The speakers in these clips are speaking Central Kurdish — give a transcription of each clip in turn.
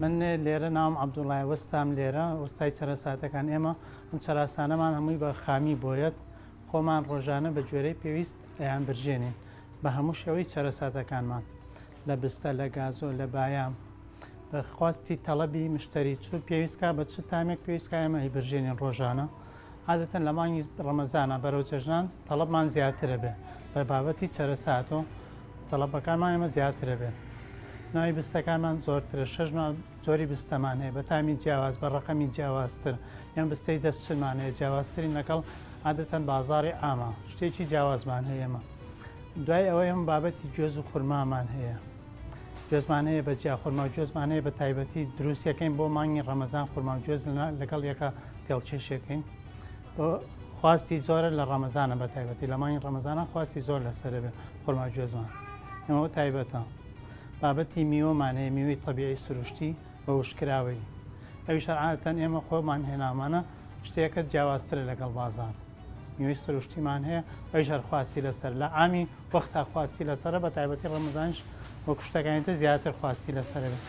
من لێرە ناوم عەبدوڵڵایە وەستام لێرە وەستای چەرەساتەکان ئێمە ئەم چەراسانەمان هەمووی بە خامی بۆیەت خۆمان ڕۆژانە بە گوێرەی پێویست ئەیان برژێنین بە هەموو شێوەی چەرەساتەکانمان لە بستە لە گازۆ لە بایام بەخواستی تەڵەبی مشتری چوو پێویستکە بە چ تامێک پێویستکە ئێمە هی برژێنین ڕۆژانە عادەتەن لە مانگی ڕەمەزانا بەرەو جەژنان تەڵەبمان زیاتر ئەبێ، بە بابەتی چەرەساتۆ تەڵەبەکانمان ئێمە زیاتر ئەبێ، ناوی بستەکانمان زۆرترە، شەش ناو جۆری بستەمان هەیە بە تامی جیاواز، بە ڕەقەمی جیاوازتر، یان بستەی دەست چنمان هەیە جیاوازترین لەگەڵ عادەتەن بازاڕی عامە، شتێکی جیاوازمان هەیە ئێمە، دوای ئەوەی ئێمە بابەتی گوێز و خورمامان هەیە. گوێزمان هەیە بە جیا خورما و گوێزمان هەیە بە تایبەتی دروستەکەین بۆ مانگی ڕەمەزان خورما و گوێز لەگەڵ یەکە تێڵچێشێکین خواستی زۆرە لە ڕەمەزانە بە تایبەتی لە مانگی ڕەمەزانە خواستی زۆر لەسەر بێ خورما گوێزمان ئەمەوە تایبەتە بابەتی میوەمان هەیە میوەی تەبیعی سروشتی بە وشکراوی ئەوی شەرعاتەن ئێمە خۆمان هێنامانە شتێکە جیاوازترە لەگەڵ بازار یوی سروشتیمان هەیە ئەویش هەر خواستی لەسەر لە ئامی وەختا خواستی لەسەرە بە تایبەتی ڕەمەزانش وەکو شتەکانی تر زیاتر خواستی لەسەرە بێت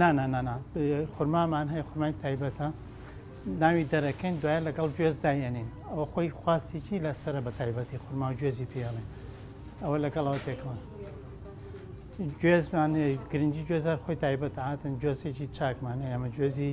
نا نا نا نا خورمامان هەیە خورمای تایبەتە ناوی دەرەکەین دوای لەگەڵ گوێز دایێنین ئەوە خۆی خواستیی لەسرە بە تایبەتی خورما و گوێزی پێڵێن ئەوە لەگەڵەوە تێکەوە گوێزمان گرنگی گوێزار خۆی تایبەت هاتن گوێزێکی چاکمان هەیە ئەمە گوێزی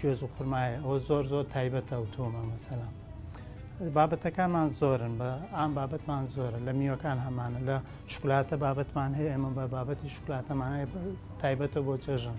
گوێز و خورمایە ئەوە زۆر زۆر تایبەتە ئەو تۆمە مەسەلا بابەتەکانمان زۆرن بە ئام بابەتمان زۆرە لە میوەکان هەمانە لە شکلاتە بابەتمان هەیە ئێمە بە بابەتی شکلاتەمان هەیە تایبەتە بۆ جەژن.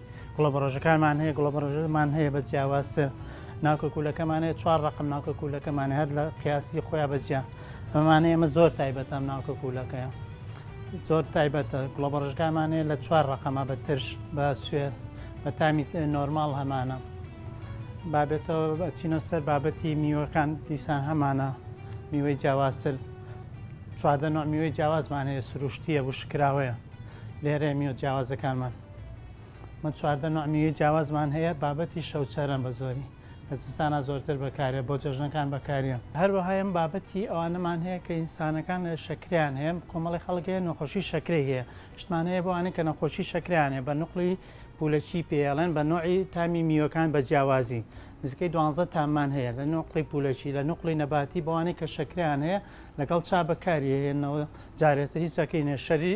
گوڵە بەڕۆژەکانمان هەیە گوڵە بەڕۆژمان هەیە بە جیاوازتر ناوکە کوولەکەمان هەیە چوار ڕقم ناوکە کوولەکەمان هەر لە قیاسی خۆیان بەجیا بەمانە ئێمە زۆر تایبەتام ناوکە کوولەکەیە زۆر تایبەتە گوڵە بەڕژکانمان هەیە لە چوار ڕقەمە بە ترش بە سوێ بە تامی نۆرمال هەمانە بابێتەوە بەچینە سەر بابەتی میوەکان دیسان هەمانە میوەی جیاوازتر چواردە نوع میوەی جیاوازمان هەیە سروشتیە وشکراوەیە لێرە میوە جیاوازەکانمان من چواردە نوع میوەی جیاوازمان هەیە بابەتی شەوچەرەن بە زۆری لە زستانا زۆرتر بەکارێ بۆ جەژنەکان بەکاریان هەروەهایم بابەتی ئەوانەمان هەیە کە ئینسانەکان لە شەکریان هەیە کۆمەڵی خەڵک هەیە نەخۆشی شەکرەی هەیە شتمان هەیە بۆوانەی کە نەخۆشی شەکریان هەیە بە نقلی پولەکی پێڵێن بە نوعی تامی میوەکان بە جیاوازی نزیکەی دوانزە تاممان هەیە لە نقلی پولەکی لە نقلی نەباتی بەوانەی کە شەکریان هەیە لەگەڵ چا بەکاری هێنەوە جارێتری چەکەی نێشەری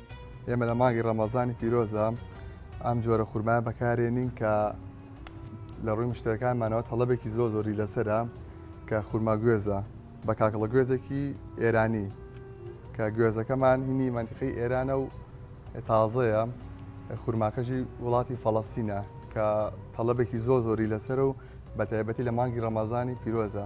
ئێمە لە مانگی ڕەمەزانی پیرۆزە ئەم جۆرە خورمایە بەکارێنین کە لە ڕووی مشتەکانمانەوە تەڵەبێکی زۆ زۆری لەسرە کە خورما گوێزە بە کاکڵە گوێزێکی ئێرانی کە گوێزەکەمان هینی منتیقی ئێرانە و تازەیە خورماکەژی وڵاتی فەڵەستینە کە تەڵەبێکی زۆ زۆری لەسەر و بە تایبەتی لە مانگی ڕەمەزانی پیرۆزە